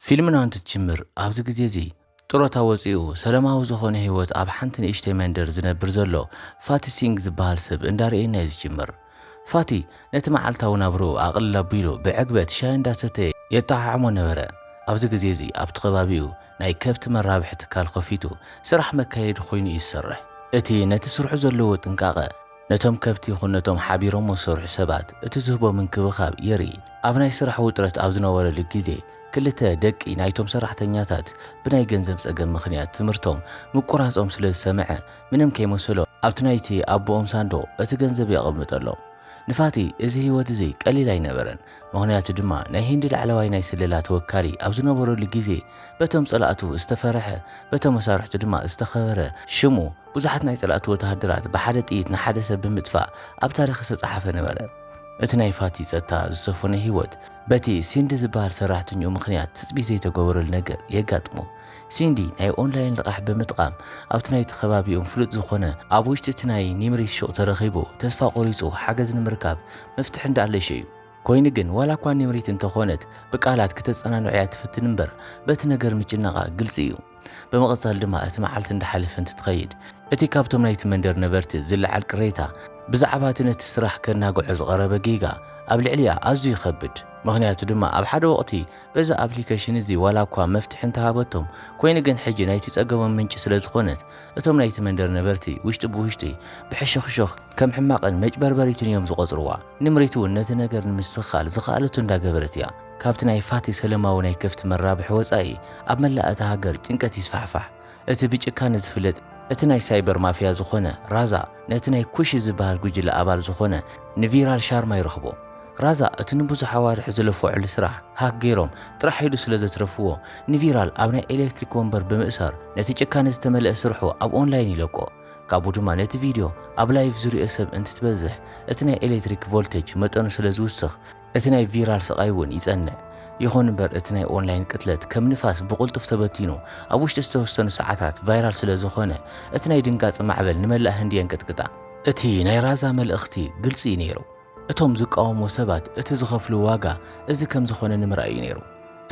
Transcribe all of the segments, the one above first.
ፊልምና እንትትጅምር፣ ኣብዚ ግዜ እዚ ጥሮታ ወጺኡ ሰለማዊ ዝኾነ ህይወት ኣብ ሓንቲ ንእሽተይ መንደር ዝነብር ዘሎ ፋቲ ሲንግ ዝበሃል ሰብ እንዳርኣየና'ዩ ዝጅምር። ፋቲ ነቲ መዓልታዊ ናብርኡ ኣቕልል ኣቢሉ ብዕግበት ሻሂ እንዳሰተየ የጠዓዕሞ ነበረ። ኣብዚ ግዜ እዚ ኣብቲ ከባቢኡ ናይ ከብቲ መራብሒ ትካል ከፊቱ ስራሕ መካየዲ ኮይኑ'ዩ ዝሰርሕ። እቲ ነቲ ስርሑ ዘለዎ ጥንቃቐ። ነቶም ከብቲ ይኹን ነቶም ሓቢሮም ዝሰርሑ ሰባት እቲ ዝህቦ ምንክብኻብ የርኢ። ኣብ ናይ ስራሕ ውጥረት ኣብ ዝነበረሉ ግዜ፣ ክልተ ደቂ ናይቶም ሰራሕተኛታት ብናይ ገንዘብ ጸገም ምኽንያት ትምህርቶም ምቁራጾም ስለ ዝሰምዐ፣ ምንም ከይመሰሎ ኣብቲ ናይቲ ኣቦኦም ሳንዱቕ እቲ ገንዘብ የቐምጠሎም። ንፋቲ እዚ ህይወት እዚ ቀሊል ኣይነበረን፣ ምኽንያቱ ድማ ናይ ህንዲ ላዕለዋይ ናይ ስለላ ተወካሊ ኣብ ዝነበረሉ ግዜ በቶም ጸላእቱ ዝተፈርሐ በቶም መሳርሕቱ ድማ ዝተኸበረ ሽሙ ብዙሓት ናይ ጸላእቲ ወተሃደራት ብሓደ ጥይት ንሓደ ሰብ ብምጥፋእ ኣብ ታሪኽ ዝተጸሓፈ ነበረ። እቲ ናይ ፋቲ ጸጥታ ዝሰፈኖ ህይወት በቲ ሲንዲ ዝበሃል ሰራሕተኛኡ ምኽንያት ትጽቢት ዘይተገበረሉ ነገር የጋጥሞ። ሲንዲ ናይ ኦንላይን ልቓሕ ብምጥቓም ኣብቲ ናይቲ ከባቢኦም ፍሉጥ ዝኾነ ኣብ ውሽጢ እቲ ናይ ኒምሪት ሹቕ ተረኺቡ ተስፋ ቆሪጹ ሓገዝ ንምርካብ መፍትሒ እንዳኣለሸ እዩ። ኮይኑ ግን ዋላ እኳ ኒምሪት እንተኾነት ብቃላት ክተጸናንዖ'ያ ትፍትን እምበር በቲ ነገር ምጭናቓ ግልጺ እዩ። ብምቕጻል ድማ እቲ መዓልቲ እንዳሓለፈ እንትትኸይድ እቲ ካብቶም ናይቲ መንደር ነበርቲ ዝለዓል ቅሬታ ብዛዕባ እቲ ነቲ ስራሕ ከናግዖ ዝቐረበ ጌጋ ኣብ ልዕሊኣ ኣዝዩ ይኸብድ ምኽንያቱ ድማ ኣብ ሓደ ወቕቲ በዚ ኣፕሊከሽን እዚ ዋላ እኳ መፍትሒ እንተሃበቶም ኮይኑ ግን ሕጂ ናይቲ ጸገሞም ምንጪ ስለዝኾነት እቶም ናይቲ መንደር ነበርቲ ውሽጢ ብውሽጢ ብሕሹኽሹኽ ከም ሕማቕን መጭበርበሪትን እዮም ዝቖጽርዋ። ንምሪት እውን ነቲ ነገር ንምስትኽኻል ዝኸኣለቶ እንዳገበረት እያ። ካብቲ ናይ ፋቲ ሰለማዊ ናይ ከፍቲ መራብሒ ወጻኢ ኣብ መላእ እታ ሃገር ጭንቀት ይስፋሕፋሕ። እቲ ብጭካነ ዝፍለጥ እቲ ናይ ሳይበር ማፍያ ዝኾነ ራዛ ነቲ ናይ ኩሺ ዝበሃል ጉጅለ ኣባል ዝኾነ ንቪራል ሻርማ ይረኽቦ። ራዛ እቲ ንብዙሕ ኣዋርሕ ዝለፈዖሉ ስራሕ ሃክ ገይሮም ጥራሕ ኢሉ ስለ ዘትረፍዎ ንቪራል ኣብ ናይ ኤለክትሪክ ወንበር ብምእሳር ነቲ ጭካነ ዝተመልአ ስርሑ ኣብ ኦንላይን ይለቆ። ካብኡ ድማ ነቲ ቪድዮ ኣብ ላይቭ ዝሪኦ ሰብ እንትትበዝሕ እቲ ናይ ኤለክትሪክ ቮልተጅ መጠኑ ስለ ዝውስኽ እቲ ናይ ቪራል ስቓይ እውን ይጸንዕ። ይኹን እምበር እቲ ናይ ኦንላይን ቅትለት ከም ንፋስ ብቕልጡፍ ተበቲኑ ኣብ ውሽጢ ዝተወሰኑ ሰዓታት ቫይራል ስለ ዝኾነ እቲ ናይ ድንጋጸ ማዕበል ንመላእ ህንዲ የንቀጥቅጣ። እቲ ናይ ራዛ መልእኽቲ ግልጺ እዩ ነይሩ። እቶም ዝቃወምዎ ሰባት እቲ ዝኸፍልዎ ዋጋ እዚ ከም ዝኾነ ንምርኣይ እዩ ነይሩ።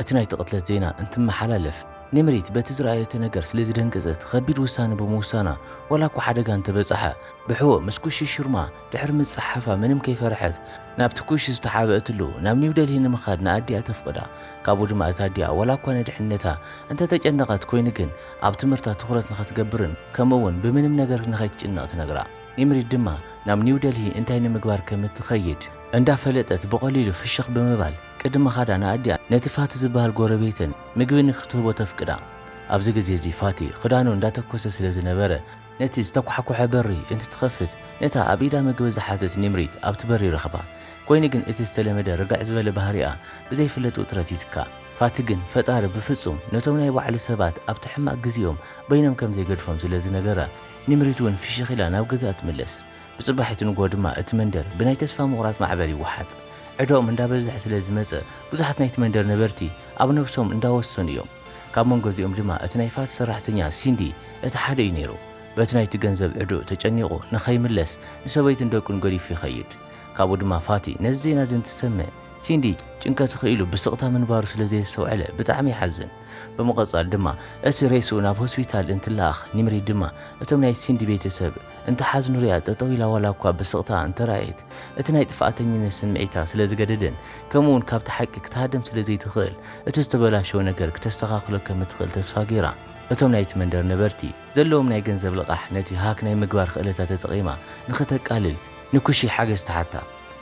እቲ ናይቲ ቅትለት ዜና እንትመሓላለፍ ኒምሪት በቲ ዝረኣየቶ ነገር ስለ ዝደንገጸት ኸቢድ ውሳነ ብምውሳና ዋላ እኳ ሓደጋ እንተበጸሓ ብሕዎ ምስ ኩሺ ሽርማ ድሕሪ ምጽሓፋ ምንም ከይፈርሐት ናብቲ ኩሽ ዝተሓብእትሉ ናብ ኒው ደልሂ ንምኻድ ንኣዲኣ ተፍቕዳ። ካብኡ ድማ እታ ኣዲኣ ዋላ እኳ ንድሕነታ እንተ ተጨነቐት ኮይኑ ግን ኣብ ትምህርታ ትኹረት ንኽትገብርን ከምኡ እውን ብምንም ነገር ንኸይትጭነቕ ትነግራ። ኒምሪድ ድማ ናብ ኒው ደልሂ እንታይ ንምግባር ከም እትኸይድ እንዳ ፈለጠት ብቐሊሉ ፍሽኽ ብምባል ቅድሚ ምኻዳ ንኣዲኣ ነቲ ፋቲ ዝበሃል ጎረቤተን ምግቢ ንክትህቦ ተፍቅዳ። ኣብዚ ግዜ እዚ ፋቲ ክዳኑ እንዳተኮሰ ስለ ዝነበረ ነቲ ዝተኳሕኮሐ በሪ እንትትኸፍት ነታ ኣብ ኢዳ መግቢ ዝሓዘት ኒምሪት ኣብቲ በሪ ረኽባ። ኮይኑ ግን እቲ ዝተለመደ ርግዕ ዝበለ ባህሪኣ ብዘይፍለጥ ውጥረት ይትካእ። ፋቲ ግን ፈጣሪ ብፍጹም ነቶም ናይ ባዕሉ ሰባት ኣብቲ ሕማቕ ግዜኦም በይኖም ከም ዘይገድፎም ስለ ዝነገራ ኒምሪት እውን ፍሽኽ ኢላ ናብ ገዝኣ ትምለስ። ብጽባሒቱ ንግሆ ድማ እቲ መንደር ብናይ ተስፋ ምቑራጽ ማዕበል ይወሓጥ። ዕዳኦም እንዳበዝሐ ስለ ዝመጸ ብዙሓት ናይቲ መንደር ነበርቲ ኣብ ነብሶም እንዳወሰኑ እዮም። ካብ መንጎ እዚኦም ድማ እቲ ናይ ፋት ሰራሕተኛ ሲንዲ እቲ ሓደ እዩ ነይሩ። በቲ ናይቲ ገንዘብ ዕዱእ ተጨኒቑ ንኸይምለስ ንሰበይቱን ደቁን ገዲፉ ይኸይድ። ካብኡ ድማ ፋቲ ነዚ ዜና እዚ እንትሰምዕ ሲንዲ ጭንቀት ኽኢሉ ብስቕታ ምንባሩ ስለ ዘየስተውዐለ ብጣዕሚ ይሓዝን። ብምቕፃል ድማ እቲ ሬስኡ ናብ ሆስፒታል እንትለኣኽ ኒምሪ ድማ እቶም ናይ ሲንዲ ቤተሰብ እንትሓዝ ንሪኣ ጠጠው ኢላ ዋላ እኳ ብስቕታ እንተረኣየት እቲ ናይ ጥፍኣተኝነት ስምዒታ ስለ ዝገደደን ከምኡ ውን ካብቲ ሓቂ ክትሃድም ስለ ዘይትኽእል እቲ ዝተበላሸወ ነገር ክተስተኻኽሎ ከም እትኽእል ተስፋ ገይራ እቶም ናይቲ መንደር ነበርቲ ዘለዎም ናይ ገንዘብ ልቓሕ ነቲ ሃክ ናይ ምግባር ኽእለታ ተጠቒማ ንኽተቃልል ንኩሺ ሓገዝ ትሓታ።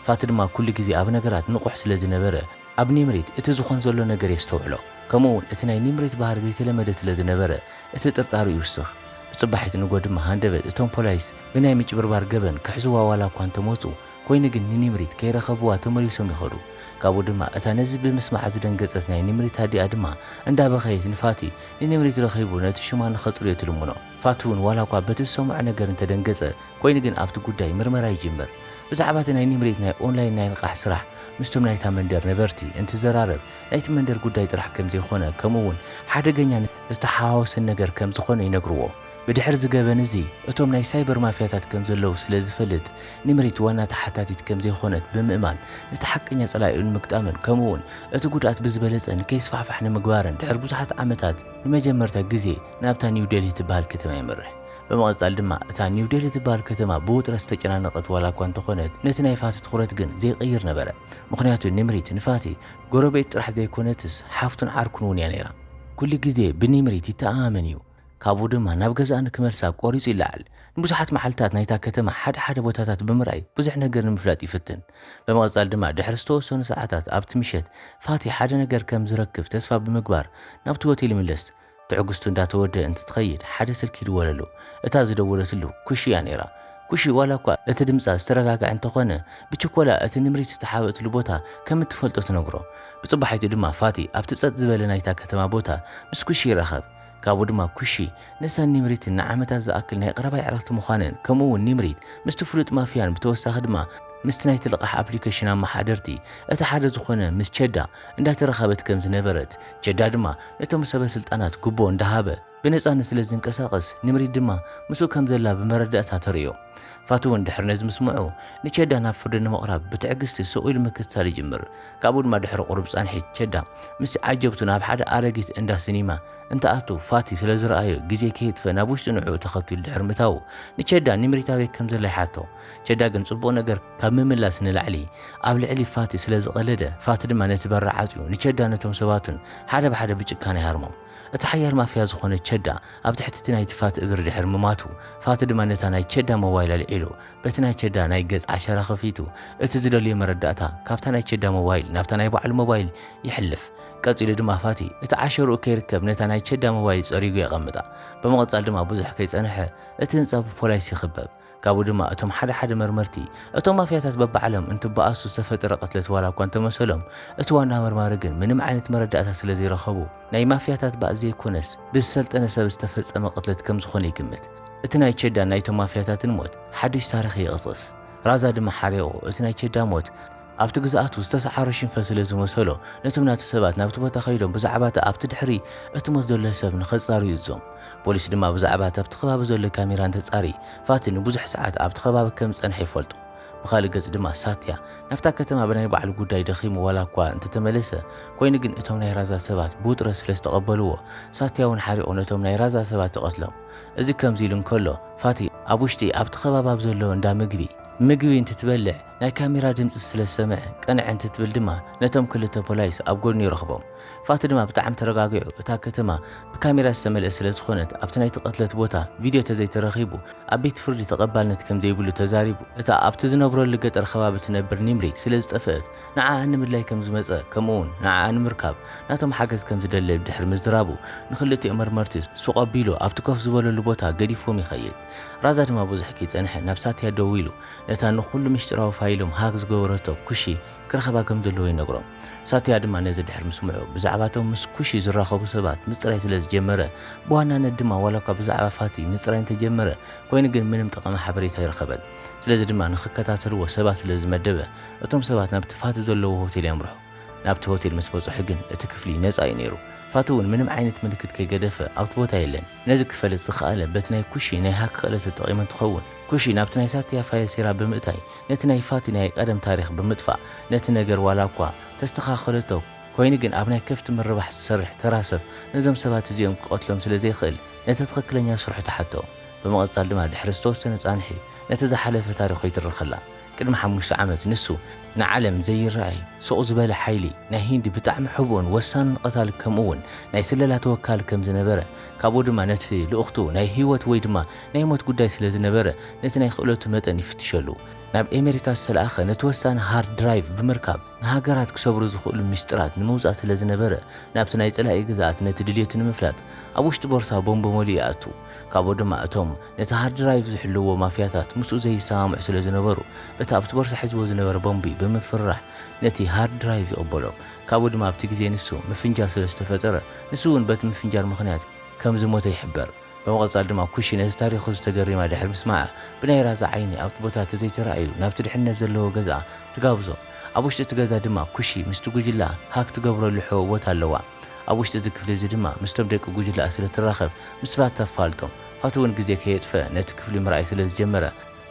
ፋቲ ድማ ኩሉ ግዜ ኣብ ነገራት ንቑሕ ስለ ዝነበረ ኣብ ኒምሪት እቲ ዝኾን ዘሎ ነገር የስተውዕሎ ከምኡ ውን እቲ ናይ ኒምሪት ባህሪ ዘይተለመደ ስለ ዝነበረ እቲ ጥርጣሩ ይውስኽ። ብጽባሒት ንግሆ ድማ ሃንደበት እቶም ፖላይስ ብናይ ምጭብርባር ገበን ክሕዙዋ ዋላ እኳ እንተመጹ፣ ኮይኑ ግን ንኒምሪት ከይረኸቡዋ ተመሊሶም ይኸዱ። ካብኡ ድማ እታ ነዚ ብምስማዓ ዝደንገጸት ናይ ኒምሪት ኣዲኣ ድማ እንዳበኸየት ንፋቲ ንኒምሪት ረኺቡ ነቲ ሹማ ንኸጽርዮ ትልምኖ። ፋቲውን ዋላ እኳ በቲ ዝሰምዖ ነገር እንተደንገጸ፣ ኮይኑ ግን ኣብቲ ጉዳይ ምርመራ ይጅምር። ብዛዕባ እቲ ናይ ኒምሪት ናይ ኦንላይን ናይ ልቓሕ ስራሕ ምስቶም ናይታ መንደር ነበርቲ እንትዘራረብ፣ ናይቲ መንደር ጉዳይ ጥራሕ ከምዘይኮነ ከምኡውን ሓደገኛ ዝተሓዋወሰን ነገር ከም ዝኾነ ይነግርዎ። ብድሕሪ እዚ ገበን እዚ እቶም ናይ ሳይበር ማፍያታት ከም ዘለዉ ስለ ዝፈልጥ፣ ኒምሪት ዋና ተሓታቲት ከም ዘይኾነት ብምእማን ነቲ ሓቀኛ ጸላኢኡ ንምግጣምን ከምኡ'ውን እቲ ጉድኣት ብዝበለጸ ንከይስፋሕፋሕ ንምግባርን ድሕሪ ብዙሓት ዓመታት ንመጀመርታ ግዜ ናብታ ኒው ደልሂ ትበሃል ከተማ የምርሕ። ብምቕጻል ድማ እታ ኒው ደልሂ ትበሃል ከተማ ብውጥረት ዝተጨናነቐት ዋላ እኳ እንተኾነት ነቲ ናይ ፋቲ ትኹረት ግን ዘይቅይር ነበረ። ምኽንያቱ ኒምሪት ንፋቲ ጎረቤት ጥራሕ ዘይኮነትስ ሓፍቱን ዓርኩን እውን እያ ነይራ። ኩሉ ግዜ ብኒምሪት ይተኣማመን እዩ፣ ካብኡ ድማ ናብ ገዛኣ ንክመልሳ ቆሪጹ ይለዓል። ንብዙሓት መዓልታት ናይታ ከተማ ሓደ ሓደ ቦታታት ብምርኣይ ብዙሕ ነገር ንምፍላጥ ይፍትን። ብምቕጻል ድማ ድሕሪ ዝተወሰኑ ሰዓታት ኣብቲ ምሸት ፋቲ ሓደ ነገር ከም ዝረክብ ተስፋ ብምግባር ናብቲ ሆቴል ይምለስ። ትዕግስቱ እንዳተወደኣ እንትትኸይድ ሓደ ስልኪ ይድወለሉ። እታ ዝደወለትሉ ኩሺ እያ ነይራ። ኩሺ ዋላ እኳ እቲ ድምጻ ዝተረጋግዐ እንተዀነ፣ ብችኰላ እቲ ንምሪት ዝተሓብእትሉ ቦታ ከም እትፈልጦ ትነግሮ። ብጽባሒቱ ድማ ፋቲ ኣብቲ ጸጥ ዝበለ ናይታ ከተማ ቦታ ምስ ኩሺ ይራኸብ። ካብኡ ድማ ኩሺ ንሳን ኒምሪትን ንዓመታት ዝኣክል ናይ ቐረባ የዕርኽቲ ምዃነን ከምኡ'ውን ኒምሪት ምስቲ ፍሉጥ ማፍያን ብተወሳኺ ድማ ምስቲ ናይቲ ልቓሕ ኣፕሊከሽን ኣመሓደርቲ እቲ ሓደ ዝዀነ ምስ ቸዳ እንዳተራኸበት ከም ዝነበረት ቸዳ ድማ ነቶም ሰበ ስልጣናት ጉቦ እንዳሃበ ብነጻነት ስለ ዝንቀሳቐስ፣ ንምሪት ድማ ምስኡ ከም ዘላ ብመረዳእታ ተርእዮ። ፋቱ'ውን ድሕሪ ነዚ ምስምዑ፣ ንቸዳ ናብ ፍርዲ ንምቕራብ ብትዕግስቲ ስቕ ኢሉ ምክትታል ይጅምር። ካብኡ ድማ ድሕሪ ቁሩብ ጻንሒት፣ ቸዳ ምስቲ ዓጀብቱ ናብ ሓደ ኣረጊት እንዳ ስኒማ እንትኣቱ ፋቲ ስለ ዝረኣዮ ግዜ ከየጥፍእ ናብ ውሽጢ ንዕኡ ተኸቲሉ ድሕሪ ምታዉ ንቸዳ ንምሪት ኣበይ ከም ዘላ ይሓቶ። ቸዳ ግን ጽቡቕ ነገር ካብ ምምላስ ንላዕሊ ኣብ ልዕሊ ፋቲ ስለ ዝቐለደ፣ ፋቲ ድማ ነቲ በሪ ዓጽዩ ንቸዳን ነቶም ሰባቱን ሓደ ብሓደ ብጭካነ ይሃርሞም። እቲ ሓያል ማፍያ ዝኾነ ቸዳ ኣብ ትሕቲ እቲ ናይቲ ፋቲ እግሪ ድሕሪ ምማቱ፣ ፋቲ ድማ ነታ ናይ ቸዳ ሞባይል ኣልዒሉ በቲ ናይ ቸዳ ናይ ገጽ ዓሸራ ከፊቱ እቲ ዝደልዮ መረዳእታ ካብታ ናይ ቸዳ ሞባይል ናብታ ናይ ባዕሉ ሞባይል የሕልፍ። ቀጺሉ ድማ ፋቲ እቲ ዓሸርኡ ከይርከብ ነታ ናይ ቸዳ ሞባይል ጸሪጉ የቐምጣ። ብምቕጻል ድማ ብዙሕ ከይጸንሐ እቲ ህንጻ ብፖላይስ ይኽበብ። ካብኡ ድማ እቶም ሓደ ሓደ መርመርቲ እቶም ማፍያታት በብዓለም እንትበኣሱ ዝተፈጠረ ቅትለት ዋላ እኳ እንተመሰሎም እቲ ዋና መርማሪ ግን ምንም ዓይነት መረዳእታ ስለ ዘይረኸቡ ናይ ማፍያታት ባእ ዘይኮነስ ብዝሰልጠነ ሰብ ዝተፈጸመ ቅትለት ከም ዝኾነ ይግምት። እቲ ናይ ቸዳን ናይቶም ማፍያታትን ሞት ሓድሽ ታሪኽ ይቕስቕስ። ራዛ ድማ ሓሪቑ እቲ ናይ ቸዳ ሞት ኣብቲ ግዝኣቱ ዝተሰዓሮ ሽንፈት ስለ ዝመሰሎ፣ ነቶም ናቱ ሰባት ናብቲ ቦታ ከይዶም ብዛዕባ'ቲ ኣብቲ ድሕሪ እቲ ሞት ዘሎ ሰብ ንኸጻርዩ እዞም። ፖሊስ ድማ ብዛዕባ'ቲ ኣብቲ ከባቢ ዘሎ ካሜራ እንተጻሪ፣ ፋቲ ንብዙሕ ሰዓት ኣብቲ ከባቢ ከም ዝጸንሐ ይፈልጡ። ብኻልእ ገጽ ድማ ሳትያ ናብታ ከተማ ብናይ ባዕሉ ጉዳይ ደኺሙ ዋላ'ኳ እንተተመለሰ፣ ኮይኑ ግን እቶም ናይ ራዛ ሰባት ብውጥረት ስለ ዝተቐበልዎ፣ ሳትያ'ውን ሓሪቑ ነቶም ናይ ራዛ ሰባት ይቐትሎም። እዚ ከምዚ ኢሉ እንከሎ፣ ፋቲ ኣብ ውሽጢ ኣብቲ ከባቢ ኣብ ዘሎ እንዳ ምግቢ። ምግቢ እንትትበልዕ፣ ናይ ካሜራ ድምጺ ስለ ዝሰምዐ ቅንዕ እንትትብል ድማ ነቶም ክልተ ፖላይስ ኣብ ጎድኑ ይረኽቦም። ፋቲ ድማ ብጣዕሚ ተረጋጊዑ እታ ከተማ ብካሜራ ዝተመልኤት ስለ ዝኾነት ኣብቲ ናይቲ ቅትለት ቦታ ቪድዮ ተዘይተረኺቡ ኣብ ቤት ፍርዲ ተቐባልነት ከም ዘይብሉ ተዛሪቡ። እታ ኣብቲ ዝነብረሉ ገጠር ከባቢ ትነብር ኒምሪ ስለ ዝጠፈእት ንዓኣ ንምድላይ ከም ዝመጸ ከምኡ'ውን ንዓኣ ንምርካብ ናቶም ሓገዝ ከም ዝደለብ ድሕሪ ምዝራቡ ንኽልቲኦም መርመርቲ ሱቕ ኣቢሉ ኣብቲ ኮፍ ዝበለሉ ቦታ ገዲፍዎም ይኸይድ። ራዛ ድማ ብዙሕ ከይጸንሐ ናብ ሳትያ ደዊሉ ነታ ንኹሉ ምስጢራዊ ፋይሎም ሃክ ዝገበረቶ ኩሺ ክረኽባ ከም ዘለዎ ይነግሮም። ሳቲያ ድማ ነዚ ድሕሪ ምስምዑ፣ ብዛዕባ እቶም ምስ ኩሺ ዝራኸቡ ሰባት ምጽራይ ስለ ዝጀመረ፣ ብዋናነት ድማ ዋላኳ ብዛዕባ ፋቲ ምጽራይ እንተጀመረ፣ ኮይኑ ግን ምንም ጠቓሚ ሓበሬታ ኣይረኸበን። ስለዚ ድማ ንኽከታተልዎ ሰባት ስለ ዝመደበ፣ እቶም ሰባት ናብቲ ፋቲ ዘለዎ ሆቴል የምርሑ። ናብቲ ሆቴል ምስ በጽሑ ግን እቲ ክፍሊ ነጻ እዩ ነይሩ። ፋቲ እውን ምንም ዓይነት ምልክት ከይገደፈ ኣብቲ ቦታ የለን። ነዚ ክፈልጥ ዝኸኣለ በቲ ናይ ኩሺ ናይ ሃክ ክእለት ተጠቒሙ እንትኸውን፣ ኩሺ ናብቲ ናይ ሳትያ ፋይል ሴራ ብምእታይ ነቲ ናይ ፋቲ ናይ ቀደም ታሪኽ ብምጥፋእ ነቲ ነገር ዋላ እኳ ተስተኻኸለቶ ኮይኑ ግን ኣብ ናይ ከፍቲ ምርባሕ ዝሰርሕ ተራ ሰብ ነዞም ሰባት እዚኦም ክቐትሎም ስለ ዘይክእል ነቲ ትኽክለኛ ስርሑ ተሓቶ። ብምቕጻል ድማ ድሕሪ ዝተወሰነ ጻንሒ ነቲ ዝሓለፈ ታሪኹ ይትርኸላ። ቅድሚ ሓሙሽተ ዓመት ንሱ ንዓለም ዘይረኣይ ሱቕ ዝበለ ሓይሊ ናይ ሂንዲ ብጣዕሚ ሕቡእን ወሳንን ቐታሊ ከምኡውን ናይ ስለላ ተወካሊ ከም ዝነበረ ካብኡ ድማ ነቲ ልእኽቱ ናይ ህይወት ወይ ድማ ናይ ሞት ጉዳይ ስለ ዝነበረ ነቲ ናይ ክእለቱ መጠን ይፍትሸሉ ናብ ኤመሪካ ዝተለኣኸ ነቲ ወሳኒ ሃርድ ድራይቭ ብምርካብ ንሃገራት ክሰብሩ ዝኽእሉ ሚስጥራት ንምውጻእ ስለ ዝነበረ ናብቲ ናይ ጸላኢ ግዝኣት ነቲ ድልየቱ ንምፍላጥ ኣብ ውሽጢ ቦርሳ ቦምብ መሊኡ ይኣቱ ካብኡ ድማ እቶም ነቲ ሃርድ ድራይቭ ዝሕልውዎ ማፍያታት ምስኡ ዘይሰማምዑ ስለ ዝነበሩ፣ እቲ ኣብቲ ቦርሳ ሒዝዎ ዝነበረ ቦምቢ ብምፍርራሕ ነቲ ሃርድ ድራይቭ ይቕበሎ። ካብኡ ድማ ኣብቲ ግዜ ንሱ ምፍንጃር ስለ ዝተፈጠረ፣ ንሱ እውን በቲ ምፍንጃር ምኽንያት ከም ዝሞተ ይሕበር። ብምቕጻል ድማ ኩሺ ነቲ ታሪኹ እዚ ተገሪማ ድሕሪ ምስማዓ፣ ብናይ ራዛ ዓይኒ ኣብቲ ቦታ ተዘይተራእዩ ናብቲ ድሕነት ዘለዎ ገዝኣ ትጋብዞ። ኣብ ውሽጢ እቲ ገዛ ድማ ኩሺ ምስቲ ጉጅለኣ ሃክ ትገብረሉ ሕቡእ ቦታ ኣለዋ። ኣብ ውሽጢ እዚ ክፍሊ እዚ ድማ ምስቶም ደቂ ጉጅለኣ ስለ ትራኸብ ምስፋ ተፋልጦም። ኸትውን ግዜ ከየጥፈ ነቲ ክፍሊ ምርኣይ ስለ ዝጀመረ፣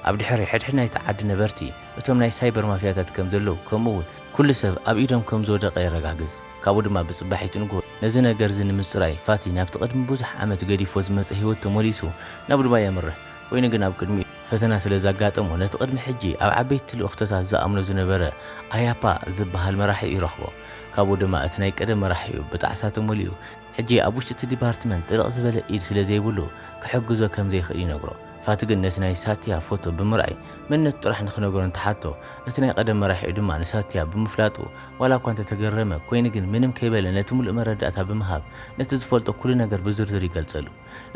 ኣብ ድሕሪ ሕድሕድ ናይቲ ዓዲ ነበርቲ እቶም ናይ ሳይበር ማፍያታት ከም ዘለዉ ከምኡ እውን ኩሉ ሰብ ኣብ ኢዶም ከም ዝወደቐ የረጋግጽ። ካብኡ ድማ ብጽባሒት ንግሆ ነዚ ነገር እዚ ንምጽራይ ፋቲ ናብቲ ቅድሚ ብዙሕ ዓመት ገዲፎ ዝመጸ ህይወት ተመሊሱ ናብ ዱባይ የምርሕ። ኮይኑ ግን ኣብ ቅድሚኡ ፈተና ስለ ዘጋጠሞ ነቲ ቅድሚ ሕጂ ኣብ ዓበይቲ ልእኽቶታት ዝኣምኖ ዝነበረ ኣያፓ ዝበሃል መራሒኡ ይረኽቦ። ካብኡ ድማ እቲ ናይ ቀደም መራሒኡ ብጣዕሳ ተመሊኡ ሕጂ ኣብ ውሽጢ እቲ ዲፓርትመንት ጥልቕ ዝበለ ኢድ ስለ ዘይብሉ ክሕግዞ ከም ዘይክእል ይነግሮ። ፋቲ ግን ነቲ ናይ ሳትያ ፎቶ ብምርኣይ መንነቱ ጥራሕ ንኽነገሮ እንትሓቶ፣ እቲ ናይ ቐደም መራሒኡ ድማ ንሳትያ ብምፍላጡ ዋላ እኳ እንተ ተገረመ ኮይኑ ግን ምንም ከይበለ ነቲ ምሉእ መረዳእታ ብምሃብ ነቲ ዝፈልጦ ኩሉ ነገር ብዝርዝር ይገልጸሉ።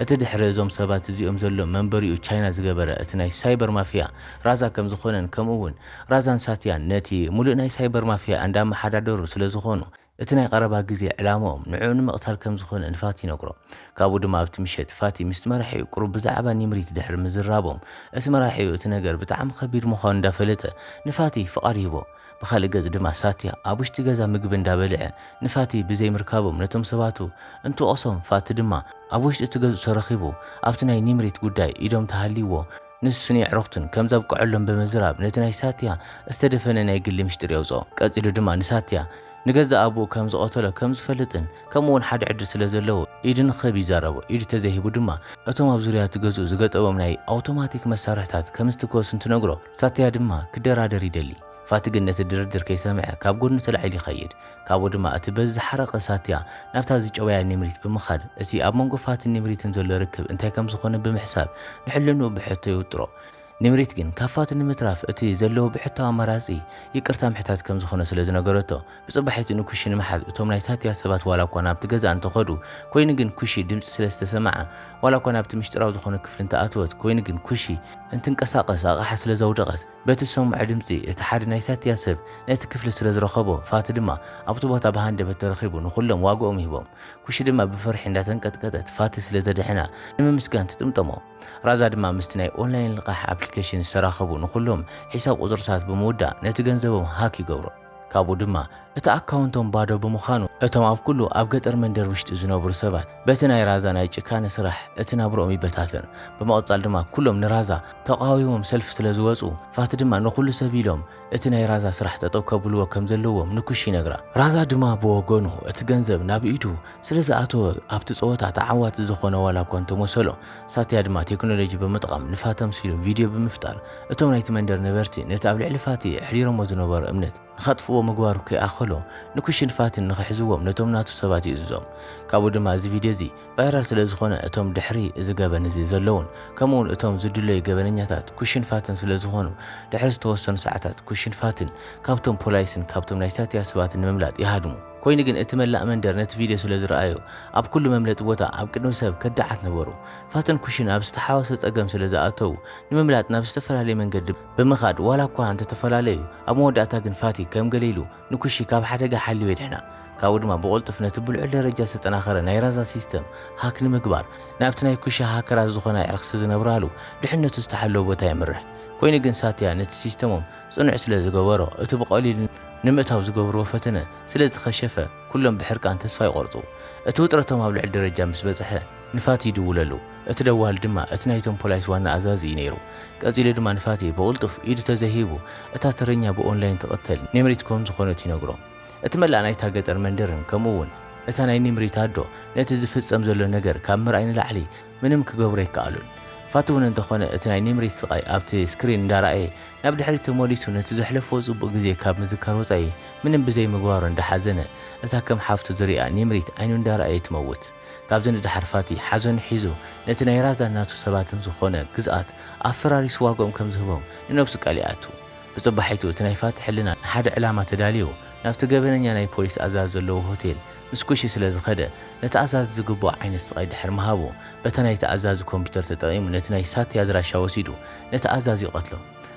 እቲ ድሕሪ እዞም ሰባት እዚኦም ዘሎ መንበሪኡ ቻይና ዝገበረ እቲ ናይ ሳይበር ማፍያ ራዛ ከም ዝኾነን ከምኡ እውን ራዛን ሳትያን ነቲ ምሉእ ናይ ሳይበር ማፍያ እንዳመሓዳደሩ ስለ ዝኾኑ እቲ ናይ ቐረባ ግዜ ዕላምኦም ንዕኡ ንምቕታል ከም ዝዀነ ንፋቲ ይነግሮ። ካብኡ ድማ ኣብቲ ምሸት፣ ፋቲ ምስቲ መራሒኡ ቁሩብ ብዛዕባ ኒምሪት ድሕሪ ምዝራቦም፣ እቲ መራሒኡ እቲ ነገር ብጣዕሚ ከቢድ ምዃኑ እንዳፈለጠ ንፋቲ ፍቓድ ይህቦ። ብኻልእ ገጽ ድማ ሳትያ ኣብ ውሽጢ ገዛ ምግቢ እንዳበልዐ ንፋቲ ብዘይ ምርካቦም ነቶም ሰባቱ እንትወቕሶም ፋቲ ድማ ኣብ ውሽጢ እቲ ገዝኡ ተረኺቡ ኣብቲ ናይ ኒምሪት ጉዳይ ኢዶም ተሃልይዎ ንሱን የዕሩኽቱን ከም ዘብቀዐሎም ብምዝራብ ነቲ ናይ ሳትያ ዝተደፈነ ናይ ግሊ ምሽጢር የውጽኦ። ቀጺሉ ድማ ንሳትያ ንገዛእ ኣቡኡ ከም ዝቐተሎ ከም ዝፈልጥን ከምኡ'ውን ሓደ ዕድል ስለ ዘለዎ ኢዱ ንኽህብ ይዛረቦ። ኢዱ ተዘይሂቡ ድማ እቶም ኣብ ዙርያ'ቲ ገዝኡ ዝገጠቦም ናይ ኣውቶማቲክ መሳርሕታት ከም ዝትከሱ እንትነግሮ ሳትያ ድማ ክደራደር ይደሊ። ፋቲ ግን ነቲ ድርድር ከይሰምዐ ካብ ጎድኑ ተላዒሉ ይኸይድ። ካብኡ ድማ እቲ በዚ ዝሓረቐ ሳትያ ናብታ ዝጨወያ ኔምሪት ብምኻድ እቲ ኣብ መንጎ ፋቲን ኔምሪትን ዘሎ ርክብ እንታይ ከም ዝኾነ ብምሕሳብ ንሕልንኡ ብሕቶ ይውጥሮ። ኔምሪት ግን ካብ ፋቲ ንምትራፍ እቲ ዘለዎ ብሕታዊ ኣማራጺ ይቅርታ ምሕታት ከም ዝኾነ ስለ ዝነገረቶ ብጽባሒቱ ንኩሺ ንምሓዝ እቶም ናይ ሳትያ ሰባት ዋላ እኳ ናብቲ ገዛ እንተኸዱ ኮይኑ ግን ኩሺ ድምጺ ስለ ዝተሰምዓ ዋላ እኳ ናብቲ ምሽጢራዊ ዝኾነ ክፍሊ እንተኣተወት ኮይኑ ግን ኩሺ እንትንቀሳቐስ ኣቕሓ ስለ ዘውደቐት በቲ ዝሰምዖ ድምጺ፣ እቲ ሓደ ናይ ሳትያ ሰብ ነቲ ክፍሊ ስለ ዝረኸቦ፣ ፋቲ ድማ ኣብቲ ቦታ ብሃንደበት ተረኺቡ ንኹሎም ዋግኦም ሂቦም። ኩሺ ድማ ብፍርሒ እንዳተንቀጥቀጠት ፋቲ ስለ ዘድሐና ንምምስጋን ትጥምጠሞ። ራዛ ድማ ምስቲ ናይ ኦንላይን ልቓሕ ኣፕሊከሽን ዝተራኸቡ ንኹሎም ሒሳብ ቁጽርታት ብምውዳእ ነቲ ገንዘቦም ሃክ ይገብሮ። ካብኡ ድማ እቲ ኣካውንቶም ባዶ ብምዃኑ እቶም ኣብ ኩሉ ኣብ ገጠር መንደር ውሽጢ ዝነብሩ ሰባት በቲ ናይ ራዛ ናይ ጭካነ ስራሕ እቲ ናብርኦም ይበታተን። ብምቕፃል ድማ ኩሎም ንራዛ ተቓዊሞም ሰልፊ ስለዝወፁ ፋቲ ድማ ንኹሉ ሰብ ኢሎም እቲ ናይ ራዛ ስራሕ ጠጠው ከብልዎ ከምዘለዎም ንኩሽ ይነግራ። ራዛ ድማ ብወገኑ እቲ ገንዘብ ናብ ኢዱ ስለዝኣተወ ኣብቲ ፀወታ ተዓዋቲ ዝኾነ ዋላ እኳ እንተመሰሎ ሳትያ ድማ ቴክኖሎጂ ብምጥቓም ንፋቲ ኣምሲሉ ቪድዮ ብምፍጣር እቶም ናይቲ መንደር ነበርቲ ነቲ ኣብ ልዕሊ ፋቲ ኣሕዲሮሞ ዝነበሩ እምነት ንኸጥፍእዎ ምግባሩ ከይኣኸሎ፣ ንኩሽን ፋትን ንኽሕዝዎም ነቶም ናቱ ሰባት ይእዝዞም። ካብኡ ድማ እዚ ቪድዮ እዚ ቫይራል ስለዝኾነ እቶም ድሕሪ እዚ ገበን እዚ ዘለዉን ከምኡ'ውን እቶም ዝድለዩ ገበነኛታት ኩሽን ፋትን ስለዝኾኑ ድሕሪ ዝተወሰኑ ሰዓታት ኩሽን ፋትን ካብቶም ፖላይስን ካብቶም ናይ ሳትያ ሰባትን ንምምላጥ ይሃድሙ። ኮይኑ ግን እቲ መላእ መንደር ነቲ ቪድዮ ስለዝረኣዮ ኣብ ኩሉ መምለጢ ቦታ ኣብ ቅድሚ ሰብ ከዳዓት ነበሩ። ፋትን ኩሽን ኣብ ዝተሓዋወሰ ጸገም ስለዝኣተዉ ንምምላጥ ናብ ዝተፈላለየ መንገዲ ብምኻድ ዋላ እኳ እንተ ተፈላለዩ፣ ኣብ መወዳእታ ግን ፋቲ ከም ገለ ኢሉ ንኩሺ ካብ ሓደጋ ሓልዩ የድሕና። ካብኡ ድማ ብቕልጡፍ ነቲ ብልዑል ደረጃ ዝተጠናኸረ ናይ ራዛ ሲስተም ሃክ ንምግባር ናብቲ ናይ ኩሺ ሃከራት ዝኾነ ኣዕርክቲ ዝነብራሉ ድሕነቱ ዝተሓለወ ቦታ የምርሕ። ኮይኑ ግን ሳትያ ነቲ ሲስተሞም ጽኑዕ ስለ ዝገበሮ እቲ ብቐሊሉ ንምእታው ዝገብርዎ ፈተነ ስለ ዝኸሸፈ ኩሎም ብሕርቃን ተስፋ ይቖርጹ። እቲ ውጥረቶም ኣብ ልዑል ደረጃ ምስ በጽሐ ንፋቲ ይድውለሉ። እቲ ደዋሊ ድማ እቲ ናይቶም ፖላይስ ዋና ኣዛዚ እዩ ነይሩ። ቀጺሉ ድማ ንፋትየ ብቕልጡፍ ኢዱ ተዘይሂቡ እታ ተረኛ ብኦንላይን ትቕተል ኒምሪት ኮም ዝኾነት ይነግሮ። እቲ መላእ ናይታ ገጠር መንደርን ከምኡ'ውን እታ ናይ ኒምሪት ኣዶ ነቲ ዝፍጸም ዘሎ ነገር ካብ ምርኣይ ንላዕሊ ምንም ክገብሩ ኣይከኣሉን። ፋት'ውን እንተኾነ እቲ ናይ ኒምሪት ስቓይ ኣብቲ ስክሪን እንዳረኣየ ናብ ድሕሪት ተመሊሱ ነቲ ዘሕለፎ ጽቡቕ ግዜ ካብ ምዝካር ወጻኢ ምንም ብዘይምግባሩ እንዳሓዘነ እታ ከም ሓፍቱ ዝሪኣ ኒምሪት ዓይኑ እንዳረኣየ ትመውት። ካብዚ ንደሓር ፋቲ ሓዘኑ ሒዙ ነቲ ናይ ራዛን ናቱ ሰባትን ዝኾነ ግዝኣት ኣፈራሪሱ ዋግኦም ከም ዝህቦም ንነብሱ ቃል ይኣቱ። ብጽባሒቱ እቲ ናይ ፋቲ ሕልና ንሓደ ዕላማ ተዳልዩ ናብቲ ገበነኛ ናይ ፖሊስ ኣዛዚ ዘለዎ ሆቴል ምስ ኩሺ ስለ ዝኸደ ነቲ ኣዛዚ ዝግብኦ ዓይነት ስቓይ ድሕሪ ምሃቡ በታ ናይቲ ኣዛዚ ኮምፒተር ተጠቒሙ ነቲ ናይ ሳቲ ኣድራሻ ወሲዱ ነቲ ኣዛዚ ይቐትሎ።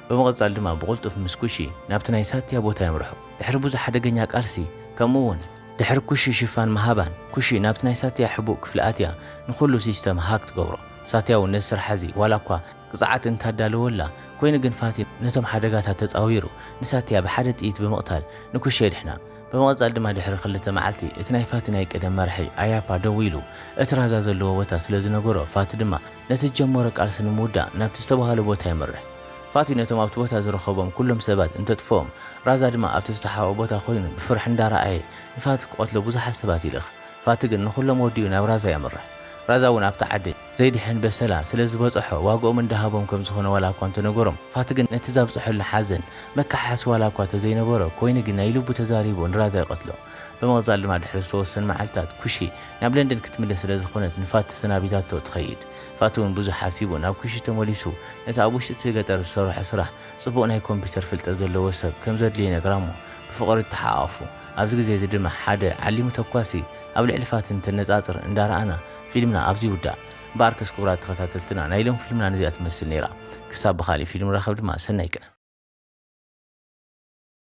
ብምቕጻል ድማ ብቕልጡፍ ምስ ኩሺ ናብቲ ናይ ሳትያ ቦታ የምርሑ። ድሕሪ ብዙሕ ሓደገኛ ቃልሲ ከምኡ'ውን። ድሕሪ ኩሺ ሽፋን ምሃባን ኩሺ ናብቲ ናይ ሳትያ ሕቡእ ክፍሊ ኣትያ ንኹሉ ሲስተም ሃክ ትገብሮ። ሳትያ ውን ነዚ ስርሓ እዚ ዋላ እኳ ቅጽዓት እንታዳለወላ ኮይኑ ግን ፋቲ ነቶም ሓደጋታት ተጻዊሩ ንሳትያ ብሓደ ጥይት ብምቕታል ንኩሺ የድሕና። ብመቐጻሊ ድማ ድሕሪ ክልተ መዓልቲ እቲ ናይ ፋቲ ናይ ቀደም መራሒ ኣያፓ ደዊሉ እቲ ራዛ ዘለዎ ቦታ ስለ ዝነገሮ ፋቲ ድማ ነቲ ዝጀመሮ ቃልሲ ንምውዳእ ናብቲ ዝተባህሎ ቦታ የምርሕ። ፋቲ ነቶም ኣብቲ ቦታ ዝረኸቦም ኩሎም ሰባት እንተጥፍኦም፣ ራዛ ድማ ኣብቲ ዝተሓብኣ ቦታ ኮይኑ ብፍርሒ እንዳረኣየ ንፋቲ ክቐትሎ ብዙሓት ሰባት ይልእኽ። ፋቲ ግን ንኹሎም ወዲኡ ናብ ራዛ የምርሕ። ራዛ እውን ኣብቲ ዓዲ ዘይድሕን በሰላ ስለዝበጸሖ ዋግኦም እንዳሃቦም ከምዝኾነ ዋላኳ እንተነገሮም ፋቲ ግን ነቲ ዛብጸሐሉ ሓዘን መከሓሓሲ ዋላኳ ተዘይነበሮ ኮይኑ ግን ናይ ልቡ ተዛሪቡ ንራዛ ይቐትሎ። ብምቕጻል ድማ ድሕሪ ዝተወሰኑ መዓልትታት ኩሺ ናብ ለንደን ክትምለስ ስለዝኾነት ንፋቲ ተሰናቢታቶ ትኸይድ። ፋቱን ውን ብዙሕ ሓሲቡ ናብ ኩሽት ተመሊሱ ነቲ ኣብ ውሽጢ እቲ ገጠር ዝሰርሖ ስራሕ ጽቡቕ ናይ ኮምፒተር ፍልጠት ዘለዎ ሰብ ከም ዘድልዮ ይነግራ'ሞ ብፍቕሪ ተሓቛቑፉ። ኣብዚ ግዜ እዚ ድማ ሓደ ዓሊሙ ተኳሲ ኣብ ልዕሊ ፋትን እንተነጻጽር እንዳ ረኣና ፊልምና ኣብዚ ይውዳእ። እምበኣርከስ ክቡራት ተኸታተልትና ናይ ሎሚ ፊልምና ነዚኣ ትመስል ነይራ። ክሳብ ብኻልእ ፊልም ንራኸብ ድማ ሰናይ ቀን።